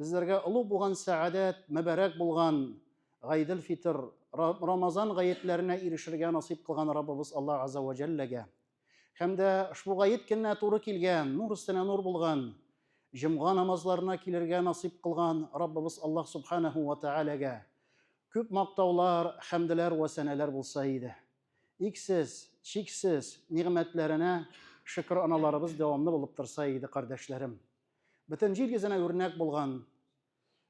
Безләргә олуг булган сәгадәт, мөбарәк булган Гайдел-фитр, Рамазан гаетләренә ирешергә насыйп кылган Раббыбыз Аллаһ Азза вә Җәлләгә һәм дә ошбу гает көненә туры килгән, нур өстенә нур булган Җомга намазларына килергә насыйп кылган Раббыбыз Аллаһ Субханаһу вә Тәгаләгә күп мактаулар, хәмделәр вә сәнәләр булса иде. Иксез, чиксез нигъмәтләренә шөкер аналарыбыз дәвамлы булып торса иде, кардәшләрем. Бөтен җир йөзенә үрнәк булган,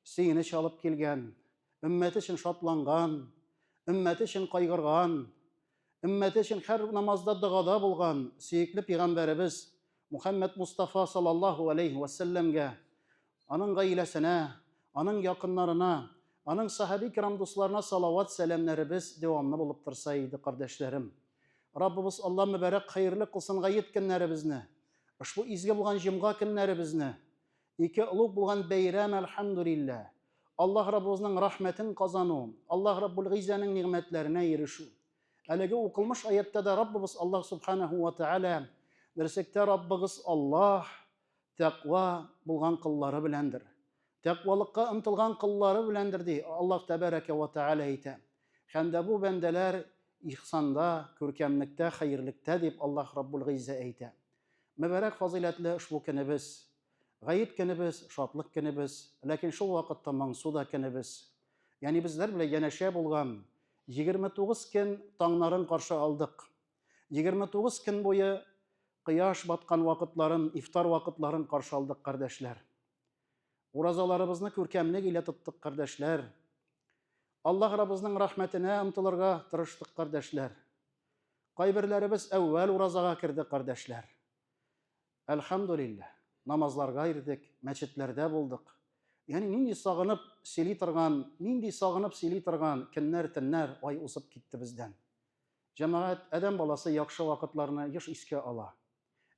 сөенеч алып килгән, өммәте өчен шатланган, өммәте өчен кайгырган, өммәте өчен һәр намазда догада булган сөекле пигамбәребез Мухаммед Мустафа саллаллаху алейхи ва салләмгә, аның гаиләсенә, аның якыннарына, аның сахаби кирам дусларына салават сәламнәребез дәвамлы булып торса иде, кардәшләрем. Раббыбыз Алла мөбарәк хәерле кылсын гает көннәребезне. Ошбу изге булган җомга көннәребезне, ике олуг булган бәйрәм, әлхәмдүлилләһ, Аллаһ Раббыбызның рәхмәтен казану, Аллаһ Раббул Гыйззәнең нигъмәтләренә ирешү. Әлеге укылмыш аятьтә дә Раббыбыз Аллаһ Субханаһу ва Тәгалә, Берсектә Раббыгыз Аллаһ, тәкъва, булган коллары беләндер. тәкъвалыкка омтылган коллары беләндер, ди Аллаһ Тәбәрәкә вә Тәгалә әйтә. Һәм дә бу бәндәләр ихсанда, күркәмлектә, хәерлектә, дип Аллаһ Раббул Гыйззә әйтә. Мөбарәк фазыйләтле ошбу көнебез, Гает көнебез, шатлык көнебез, ләкин шул вакытта моңсу да көнебез. Ягъни безләр белән янәшә булган егерме тугыз көн таңнарын каршы алдык. Егерме тугыз көн буе кояш баткан вакытларын, ифтар вакытларын каршы алдык, кардәшләр. Уразаларыбызны күркәмлек илә тоттык, кардәшләр. Аллаһ Раббызның рәхмәтенә омтылырга тырыштык, кардәшләр. Кайберләребез әүвәл уразага керде, кардәшләр. Әлхәмдүлилләһ, намазларга ирдек, мәчетләрдә булдык. Ягъни нинди сагынып сөйли торган, нинди сагынып сөйли торган көннәр, төннәр, ай узып китте бездән. Җәмәгать, адәм баласы яхшы вакытларны еш искә ала.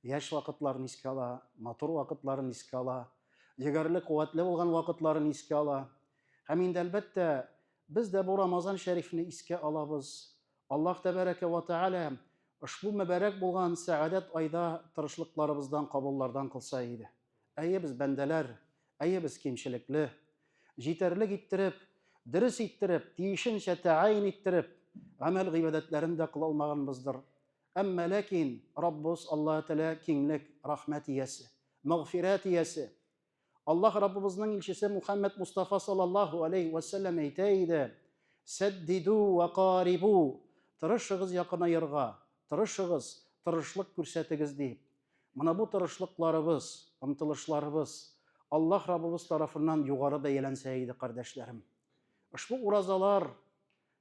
Яшь вакытларын искә ала, матур вакытларын искә ала, егәрле, куәтле булган вакытларын искә ала. Һәм инде, әлбәттә, без дә бу Рамазан шәрифне искә алабыз. Аллаһ Тәбәрәкә вә Тәгалә ошбу мөбарәк булган сәгадәт айда тырышлыкларыбыздан кабуллардан кылса иде. Әйе, без бәндәләр, әйе, без кимчелекле. Җитәрлек иттереп, дөрес иттереп, тиешенчә тәгаен иттереп, гамәл-гыйбадәтләрен дә кыла алмаганбыздыр. Әмма ләкин Раббыбыз Аллаһ Тәгалә киңлек, рәхмәт иясе, мәгъфирәт иясе. Аллаһ Раббыбызның илчесе Мухаммад Мустафа саллаллаһу алейхи вә сәлләм әйтә иде: "Сәддиду вә карибу", тырышыгыз якынаерга, тырышыгыз, тырышлык күрсәтегез дип. Менә бу тырышлыкларыбыз, омтылышларыбыз Аллаһ Раббыбыз тарафыннан югары бәяләнсә иде, кардәшләрем. Ошбу уразалар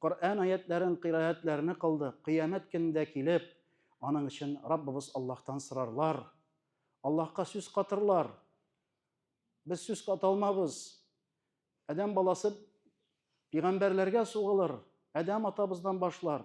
Коръән аятьләрен, кыйраәтләрне кылды, кыямәт көнендә килеп, аның өчен Раббыбыз Аллаһтан сорарлар, Аллаһка сүз катырлар. Без сүз ката алмабыз. Адәм баласы пигамбәрләргә сугылыр, Адәм атабыздан башлар.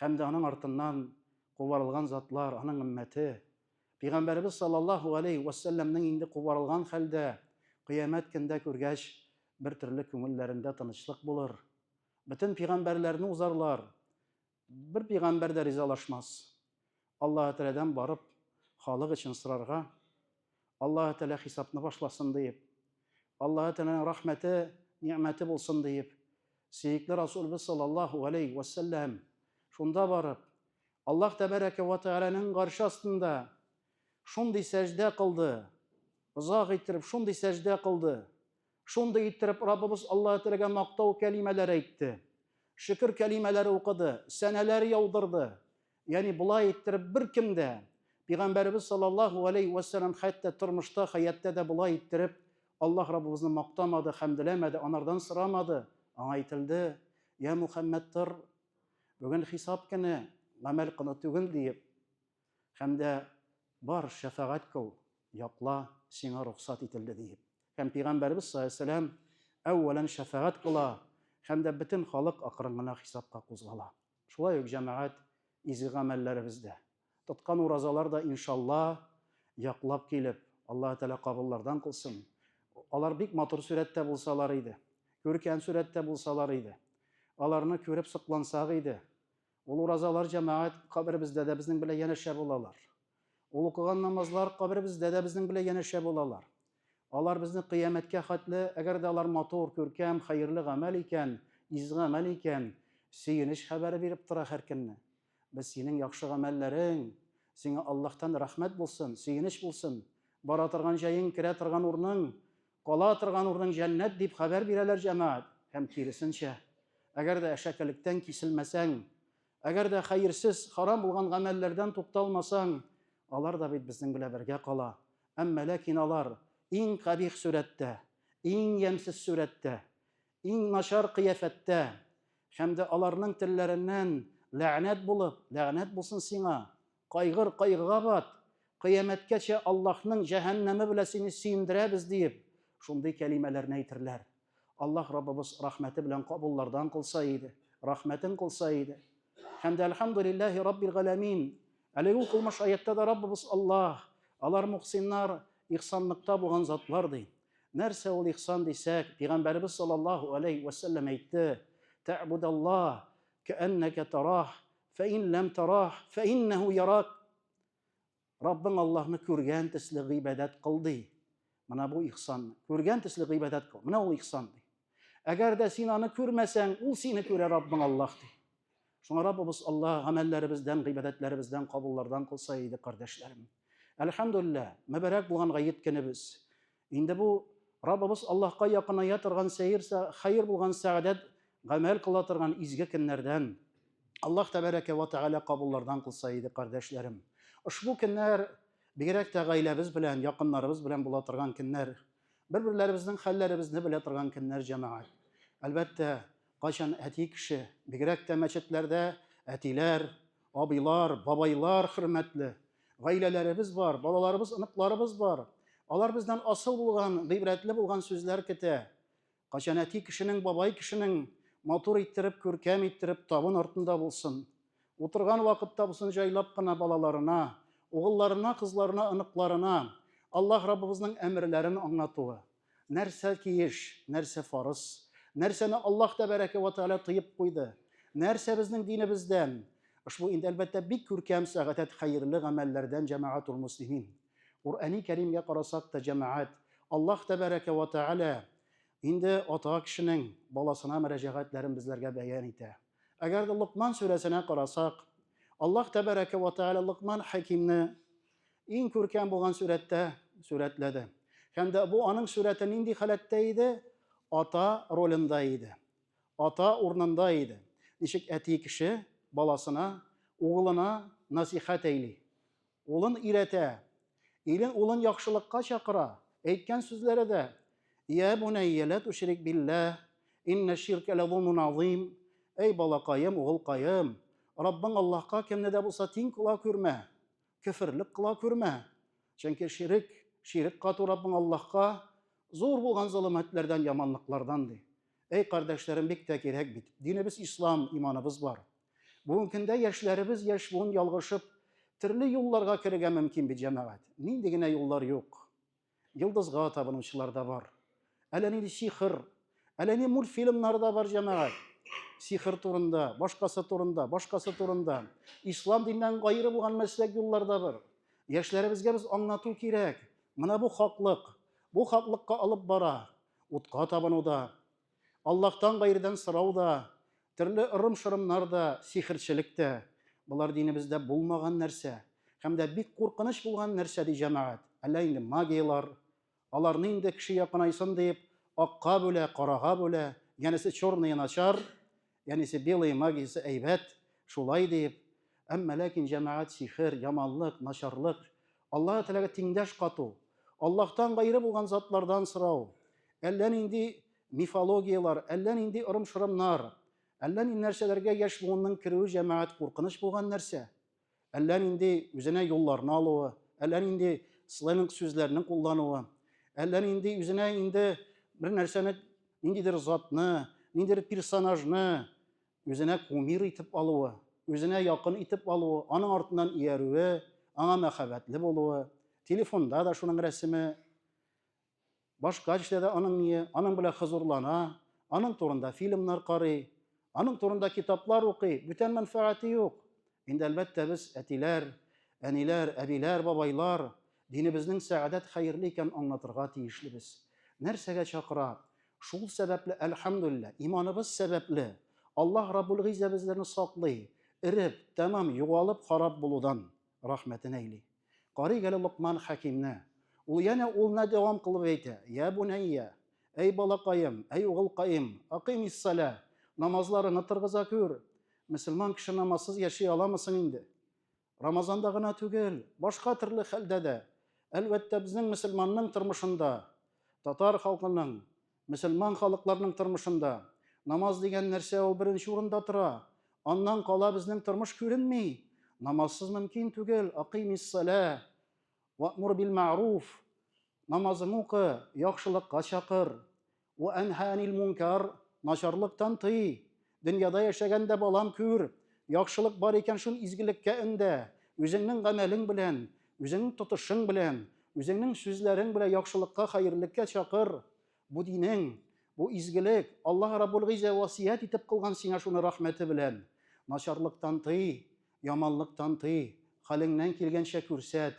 Һәм дә аның артыннан кубарылган затлар, аның өммәте, Пәйгамбәребез саллаллаһу галәйһи вә сәлләмнең инде кубарылган хәлдә Кыямәт көндә күргәч, бер төрле күңелләрендә тынычлык булыр. Бөтен пәйгамбәрләрне узарлар. Бер пәйгамбәр дә ризалашмас. Аллаһы Тәләдән барып, халык өчен сорарга, Аллаһы Тәлә хисапны башласын диеп, Аллаһы Тәләнең рәхмәте, нигъмәте булсын диеп, сөекле Расулыбыз саллаллаһу галәйһи вә сәлләм шунда барып, Аллаһ Тәбәрәкә вә Тәгаләнең гарше астында шундый сәҗдә кылды, озак иттереп шундый сәҗдә кылды, шундый иттереп Раббыбыз Аллаһы Тәләгә мактау кәлимәләре әйтте, шөкер кәлимәләре укыды, сәнәләр яудырды, Ягъни болай иттереп беркем дә Пәйгамбәребез саллаллаһу алейхи ва саллям хәтта тормышта, хәяттә дә болай иттереп Аллаһ Раббыбызны мактамады, хәмдиләмәде, анардан сорамады. Аңа әйтелде: "Я Мухаммад, тор. Бүген хисап көне, гамәл көне түгел", диеп. Һәм дә бар, шәфәгать кыл, якла, сиңа рөхсәт ителде, диеп. Һәм Пәйгамбәребез саллаллаһу алейхи ва саллям әүвәлән шәфәгать кыла һәм дә бөтен халык акрын гына хисапка кузгала. Шулай ук җәмәгать изге гамәлләребез дә, тоткан уразалар да, иншалла, яклап килеп, Аллаһы Тәгалә кабуллардан кылсын. Алар бик матур сурәттә булсалар иде, күркәм сурәттә булсалар иде, аларны күреп соклансак иде. Ул уразалар, җәмәгать, каберебездә дә безнең белән янәшә булалар. Ул укыган намазлар каберебездә дә безнең белән янәшә булалар. Алар безне кыямәткә хәтле, әгәр дә алар матур, күркәм, хәерле гамәл икән, изге гамәл икән, сөенеч хәбәре биреп тора һәркөнне. Без синең яхшы гамәлләрең, сиңа Аллаһтан рәхмәт булсын, сөенеч булсын, бара торган җаең, керә торган урының, кала торган урының җәннәт, дип хәбәр бирәләр, җәмәгать. Һәм киресенчә, әгәр дә әшәкелектән киселмәсәң, Әгәр дә хәерсез, харам булган гамәлләрдән тукталмасаң, алар да бит безнең белән бергә кала. Әмма ләкин алар иң кабих сурәттә, иң ямьсез сурәттә, иң начар кыяфәттә һәм дә аларның телләреннән ләгънәт булып, Ләгънәт булсын сиңа, Кайгыр, кайгыга бат, кыямәткәчә Аллаһның җәһәннәме белә сине сөендерәбез, диеп, шундый кәлимәләрне әйтерләр. Аллаһ Раббыбыз рәхмәте белән кабуллардан кылса иде, рәхмәтен кылса иде. Һәм дә Әлхәмдүлилләһи Раббил галәмин. Әлеге укылмыш аятьтә дә Раббыбыз Аллаһ, алар мөхсиннар, ихсанлыкта булган затлар, ди. Нәрсә ул ихсан дисәк, Пигамбәребез саллаллаһу галәйһи вә сәлләм әйтте, Тәгъбудаллаһ кәәннәкә тараһ, Фәин ләм тарах, фәиннәһу ярак. Раббың Аллаһны күргән төсле гыйбадәт кыл ди. Менә бу ихсан. Күргән төсле гыйбадәт кыл. Менә ул ихсан ди. Әгәр дә син аны күрмәсәң, ул сине күрә Раббың Аллаһ ди. Шуңа Раббыбыз Аллаһ гамәлләребездән, гыйбадәтләребездән кабуллардан кылса иде, кардәшләрем. Әлхәмдулиллаһ, мөбарәк булган гает көнебез. Инде бу Раббыбыз Аллаһка якыная торган сәер, хәер булган сәгадәт гамәл кыла торган изге көннәрдән. Аллаһ тәбәрәкә вә тәгалә кабуллардан кылса иде, кардәшләрем. Ошбу көннәр бигрәк тә гаиләбез белән, якыннарыбыз белән була торган көннәр, бер-берләребезнең хәлләребезне белә торган көннәр, җәмәгать. Әлбәттә, Кайчан әти кеше, бигрәк тә мәчетләрдә әтиләр, абыйлар, бабайлар хөрмәтле. Гаиләләребез бар, балаларыбыз, оныкларыбыз бар. Алар бездән асыл булган, гыйбрәтле булган сүзләр көтә. Кайчан әти кешенең, бабай кешенең матур иттереп, күркәм иттереп табын артында булсын. Утырган вакытта булсын җайлап кына балаларына, угылларына, кызларына, оныкларына Аллаһ Раббыбызның әмерләрен аңлатуы. Нәрсә тиеш, нәрсә фарыз? Нәрсәне Аллаһ Тәбәрәкә вә Тәгалә тыеп куйды? Нәрсә безнең динебездән? Ошбу инде, әлбәттә, бик күркәм сәгатәт хәерле гамәлләрдән, җәмәгатул-мөслимин. Коръәни Кәримгә карасак та, җәмәгать, Аллаһ Тәбәрәкә вә Тәгалә инде ата кешенең баласына мөрәҗәгатьләрен безләргә бәян итә. Әгәр дә Локман сүрәсенә карасак, Аллаһ Тәбәрәкә вә Тәгалә Локман Хәкимне Иң күркәм булган сурәттә сурәтләде. Һәм дә бу аның сурәте нинди халәттә иде? Ата ролендә иде. Ата урнында иде. Ничек әти кеше баласына, угылына насихәт әйли. Улын өйрәтә. Илен, улын яхшылыкка чакыра. Әйткән сүзләре дә, Йә бунәйя лә туширик биллә, иннә ширкә лә зулмун азыйм, Әй балакаем, угылкаем, Раббың Аллаһка кемне дә булса тиң кыла күрмә. Көферлек кыла күрмә. Чөнки ширек, ширек кату Раббың Аллаһка зур булган золымәтләрдән, яманлыклардан, ди. Әй, кардәшләрем, бик тә кирәк бит. Динебез ислам, иманыбыз бар. Бүгенге көндә яшьләребез яшь буын ялгышып, төрле юлларга керергә мөмкин бит, җәмәгать. Нинди генә юллар юк. Йолдызга табынучылар да бар. Әллә нинди сихр, әллә ни мультфильмнар да бар, җәмәгать. Сихр турында, башкасы турында, башкасы турында. Ислам диннән гайры булган мәсләк юллар да бар. Яшьләребезгә без аңлату кирәк. Менә бу хаклык. Бу хаклыкка алып бара. Утка табынуда, Аллаһтан гайредән сорау да, төрле ырым-шырымнар да, сихерчелек тә, болар динебездә булмаган нәрсә һәм дә бик куркыныч булган нәрсә, ди җәмәгать. Әллә инде магияләр, аларны инде кеше якынайсын диеп, акка бүлә, карага бүлә, янәсе черные начар, Янесе белые магиясе әйбәт, шулай диеп, әмма ләкин җәмәгать сихер, яманлык, начарлык, Аллаһы Тәгаләгә тиңдәш кату, Аллаһтан гайре булган затлардан сорау, әллә нинди мифологияләр, әллә нинди ырым-шырымнар, әллә ни нәрсәләргә яшь буынның керүе җәмәгать куркыныч булган нәрсә. Әллә нинди үзенә юлларны алуы, әллә нинди сленг сүзләрне куллануы, әллә нинди үзенә инде бер нәрсәне, ниндидер затны, ниндидер персонажны үзенә кумир итеп алуы, үзенә якын итеп алуы, аның артыннан иярүе, аңа мәхәббәтле булуы, телефонда да шуның рәсеме Башка эштә дә аның мие аның белән хозурлана, аның турында фильмнар карый, аның турында китаплар укый, бүтән мәнфәгате юк. Инде, әлбәттә, без, әтиләр, әниләр, әбиләр, бабайлар, динебезнең сәгадәт хәерле икәнен аңлатырга тиешлебез. Нәрсәгә чакыра? Шул сәбәпле, әлхәмдүлилләһ, иманыбыз сәбәпле, Аллаһ Раббул-Гыйззә безләрне саклый, эреп, тәмам югалып, харап булудан. Рәхмәтен әйли. Карыйк әле Локман хәкимне. Ул янә улына дәвам кылып әйтә, Йә бунәйя, әй балакаем, әй угылкаем, акыймиссалә, намазларыңны тыргыза күр. Мөселман кеше намазсыз яши аламы соң инде? Рамазанда гына түгел, башка төрле хәлдә дә. Әлбәттә, безнең мөселманның тормышында, татар халкының Мөселман халыкларның тормышында намаз дигән нәрсә ул беренче урында тора. Аннан кала безнең тормыш күренми. Намазсыз мөмкин түгел. Акимиссалә, вәмур бил мәгъруф. Намазың укы, яхшылыкка чакыр. Вәәнһәәнил мункар, начарлыктан тый. Дөньяда яшәгәндә балам күр, яхшылык бар икән шул изгелеккә өндә, үзеңнең гамәлең белән, үзеңнең тотышың белән, үзеңнең сүзләрең белән яхшылыкка, хәерлеккә чакыр. Бу динең, бу изгелек, Аллаһ Раббул Гыйззә васыять итеп кылган сиңа шуны рәхмәте белән. Начарлыктан тый, яманлыктан тый, хәлеңнән килгәнчә күрсәт.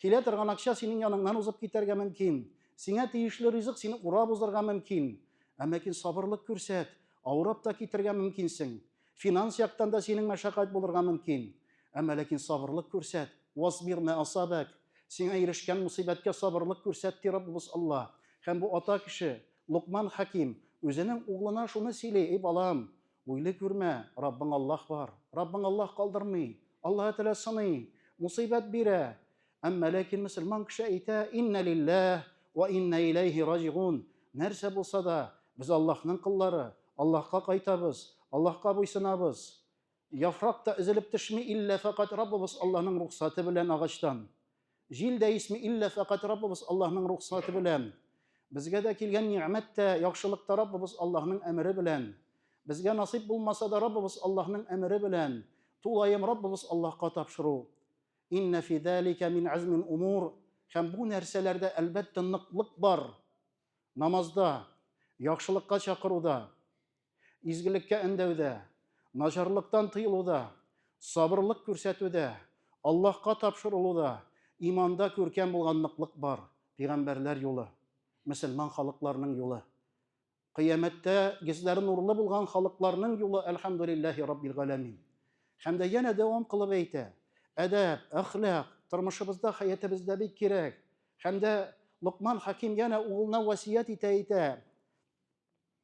Килә торган акча синең яныңнан узып китәргә мөмкин. Сиңа тиешле ризык сине урап узарга мөмкин. Ә ләкин сабырлык күрсәт, авырып та китәргә мөмкинсең. Финанс яктан да синең мәшәкать булырга мөмкин. Ә ләкин сабырлык күрсәт. Васбир мә асабәк. Сиңа ирешкән мөсыйбәткә сабырлык күрсәт, ди Раббыбыз Алла. Һәм бу ата кеше, Локман хәким, үзенең углына шуны сөйли, Эй балам, Уйлый күрмә, Раббың Аллаһ бар. Раббың Аллаһ калдырмый. Аллаһы Тәгалә сыный, мусыйбәт бирә. Әмма ләкин мөселман кеше әйтә, Иннә лилләһ вә иннә иләйһи раҗигун. Нәрсә булса да, без Аллаһның коллары, Аллаһка кайтабыз, Аллаһка буйсынабыз. Яфрак та өзелеп төшми, иллә фәкать Раббыбыз Аллаһның рухсаты белән агачтан. Җил дә исми иллә фәкать Раббыбыз Аллаһның рөхсаты белән. Безгә дә килгән ни'мәт тә, яхшылык та Раббыбыз Аллаһның әмере белән. Безгә насыйп булмаса да Раббыбыз Аллаһның әмере белән, тулаем Раббыбыз Аллаһка тапшыру. Иннә фи залика мин азмил умур. Һәм бу нәрсәләрдә, әлбәттә, ныклык бар. Намазда, яхшылыкка чакыруда. Изгелеккә өндәүдә, начарлыктан тыелуда, сабырлык күрсәтүдә, Аллаһка тапшырылуда, иманда күркәм булган ныклык бар, пигамбәрләр юлы, мөселман халыкларның юлы. Кыямәттә гезләре нурлы булган халыкларның юлы, әлхәмдүлилләһи раббил галәмин. Һәм дә янә дәвам кылып әйтә, әдәп, әхлак тормышыбызда, хәятебездә бик кирәк. Һәм дә Локман хаким янә угылына васият итә, әйтә,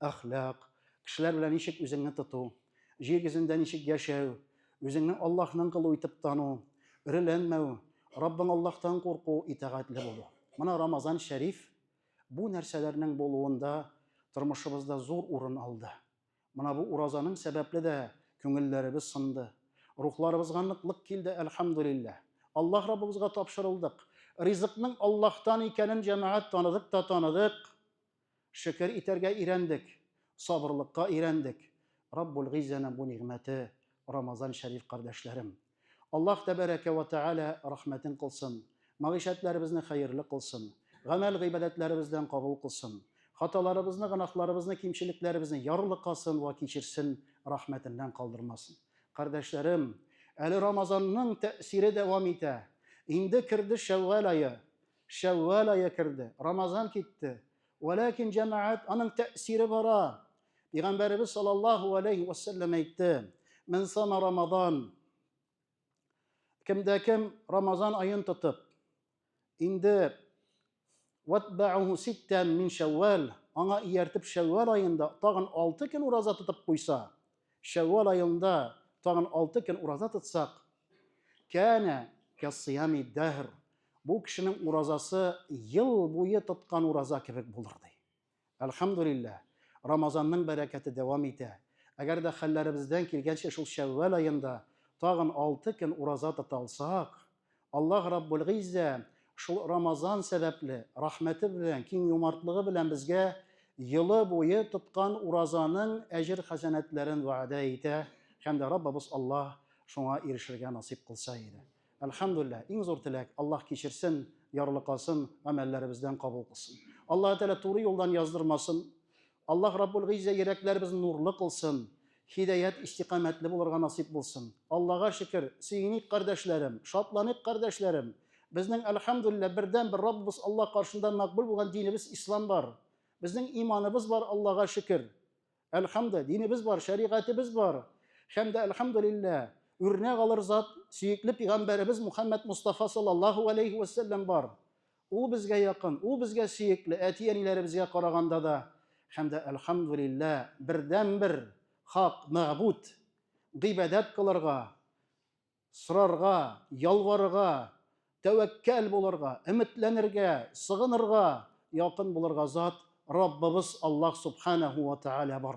әхлак, кешеләр белән ничек үзеңне тоту, җир йөзендә ничек яшәү, үзеңне Аллаһның колы итеп тану, өреләнмәү, Раббың Аллаһтан курку, итагатьле булу. Менә Рамазан шәриф бу нәрсәләрнең булуында тормышыбызда зур урын алды. Менә бу уразаның сәбәпле дә күңелләребез сынды. Рухларыбызга ныклык килде, әлхәмдулиллә. Аллаһ Раббыбызга тапшырылдык. Ризыкның Аллаһтан икәнен җәмәгать таныдык та таныдык. Шөкер итәргә өйрәндек, сабырлыкка өйрәндек. Раббул Гыйззәнең бу нигъмәте Рамазан шәриф, кардәшләрем. Аллаһ Тәбәрәкә вә Тәгалә рәхмәтен кылсын, мәгыйшәтләребезне хәерле кылсын, гамәл-гыйбадәтләребездән кабул кылсын, хаталарыбызны, гөнаһларыбызны, кимчелекләребезне ярлыкасын вә кичерсен, рәхмәтеннән калдырмасын. Кардәшләрем, әле Рамазанның тәэсире дәвам итә. Инде керде Шәүвәл ае. Шәввал айы керде, Рамазан китте. Вәләкин җәмәгать аның тәэсире бара. Пәйгамбәребез саллаллаһу алейхи ва саллям әйтте: "Мин сама Рамазан" Кемдә кем Рамазан аен тотып, инде ватбауху ситтән мин шәввәл, аңа ияртеп шәввәл аенда тагын алты көн ураза тотып куйса, Шәввал аенда тагын алты көн ураза тотсак, кәнә кәссыями дәһр, бу кешенең уразасы ел буе тоткан ураза кебек булыр, ди. Әлхәмдүлилләһ, Рамазанның бәрәкәте дәвам итә. Әгәр дә хәлләребездән килгәнчә шул Шәввал аенда тагын алты көн ураза тота алсак, Аллаһ Раббулгыйззә шул Рамазан сәбәпле, рәхмәте белән, киң юмартлыгы белән безгә елы буе тоткан уразаның әҗер-хәсәнәтләрен вәгъдә итә һәм дә Раббыбыз Аллаһ шуңа ирешергә насыйп кылса иде. Әлхәмдүлилләһ, иң зур теләк, Аллаһ кичерсен, ярлыкасын, гамәлләребездән кабул кылсын. Аллаһы Тәгалә туры юлдан яздырмасын, Аллаһ Раббул Гыйззә йөрәкләребезне нурлы кылсын, һидаят истикамәтле булырга насыйп булсын. Аллага шөкер, сөеник кардәшләрем, шатланыйк кардәшләрем, безнең Әлхәмдүлилләһ бердәнбер Раббыбыз Аллаһ каршында мәкбүл булган динебез Ислам бар. Безнең иманыбыз бар Аллага шөкер. Әлхәмдү, динебез бар, шәригатебез бар. Һәм дә Әлхәмдүлилләһ, үрнәк алыр зат, сөекле пигамбәребез Мухәммәд Мостафа саллаллаһу галәйһи вәссәлләм бар. Ул безгә якын, ул безгә сөекле, әти-әниләребезгә караганда да һәм дә, әлхәмдүлиллә, бердәнбер хак мәгъбүд, гыйбадәт кылырга, сорарга, ялварырга, тәвәккәл булырга, өметләнергә, сыгынырга, якын булырга зат Раббыбыз Аллаһ Субханәһү вә Тәгалә бар.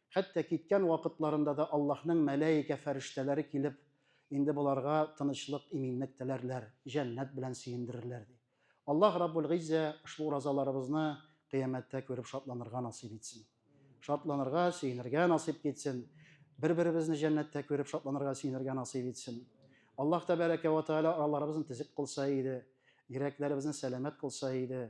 Хәтта киткән вакытларында да Аллаһның мәлаикә фәрештәләре килеп, инде боларга тынычлык, иминлек теләрләр, җәннәт белән сөендерерләр, ди. Аллаһ Раббул Гыйззә ошбу уразаларыбызны Кыямәттә күреп шатланырга насыйп итсен. Шатланырга, сөенергә насыйп китсен. Бер-беребезне җәннәттә күреп шатланырга, сөенергә насыйп итсен. Аллаһ Тәбәрәкә вә Тәгалә араларыбызны тезек кылса иде, йөрәкләребезне сәламәт кылса иде.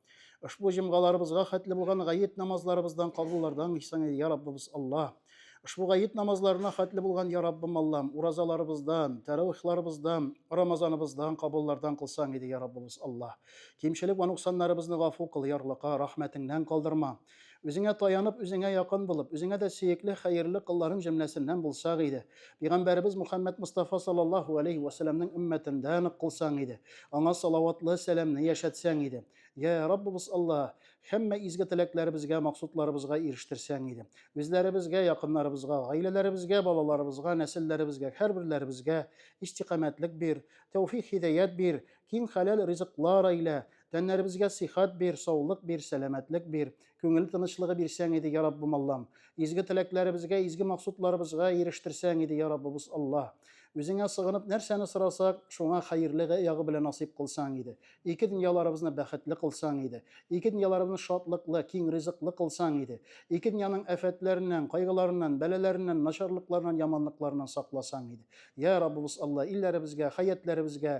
Ошбу җомгаларыбызга хәтле булган гает намазларыбыздан кабуллардан исән, я Раббыбыз Аллаһ. Ошбу гает намазларына хәтле булган, я Раббым Аллам, уразаларыбыздан, тәравихларыбыздан, рамазаныбыздан кабуллардан кылсаң иде, я Раббыбыз Аллаһ. Кимчелек вә нуксаннарыбызны гафу кыл, ярлыка, рәхмәтеңнән калдырма. Үзеңә таянып, үзеңә якын булып, үзеңә дә сөекле, хәерле колларың җөмләсеннән булсак иде. Пәйгамбәребез Мөхәммәд Мостафа саллаллаһу алейһи вә сәләмнең өммәтендә нык кылсаң иде. Аңа салаватлы сәламне яшәтсәң иде. Йә, Раббыбыз Аллаһ, һәммә изге теләкләребезгә, максутларыбызга ирештерсәң иде. Үзләребезгә, якыннарыбызга, гаиләләребезгә, балаларыбызга, нәселләребезгә, һәрберләребезгә истикамәтлек бир, тәүфик-һидәят бир, киң хәләл ризыклар әйлә, Тәннәребезгә сихәт бир, саулык бир, сәламәтлек бир. Күңел тынычлыгы бирсәң иде, я Раббым Аллам. Изге теләкләребезгә, изге максутларыбызга ирештерсәң иде, я Раббыбыз Алла. Үзеңә сыгынып нәрсәне сорасак, шуңа хәерле ягы белән насыйп кылсаң иде. Ике дөньяларыбызны бәхетле кылсаң иде. Ике дөньяларыбызны шатлыклы, киң ризыклы кылсаң иде. Ике дөньяның афәтләреннән, кайгыларыннан, бәлаләреннән, начарлыкларыннан, яманлыкларыннан сакласаң иде. Я Раббыбыз Алла, илләребезгә, хәятьләребезгә,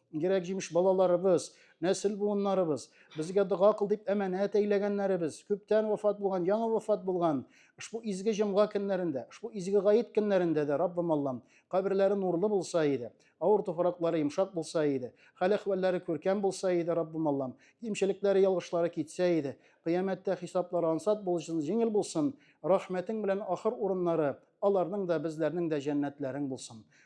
Кирәк җимеш балаларыбыз, нәсел буыннарыбыз, безгә дога кыл дип әманәт әйләгәннәребез, күптән вафат булган, яңа вафат булган, ошбу изге җомга көннәрендә, ошбу изге гаит көннәрендә дә, Раббым Аллам, каберләре нурлы булса иде, авыр туфраклары йомшак булса иде, хәл-әхвәлләре күркәм булса иде, Раббым Аллам, кимчелекләре, ялгышлары китсә иде, кыямәттә хисаплары ансат булсын, җиңел булсын, рәхмәтең белән ахыр урыннары аларның да, безләрнең дә җәннәтләрең булсын.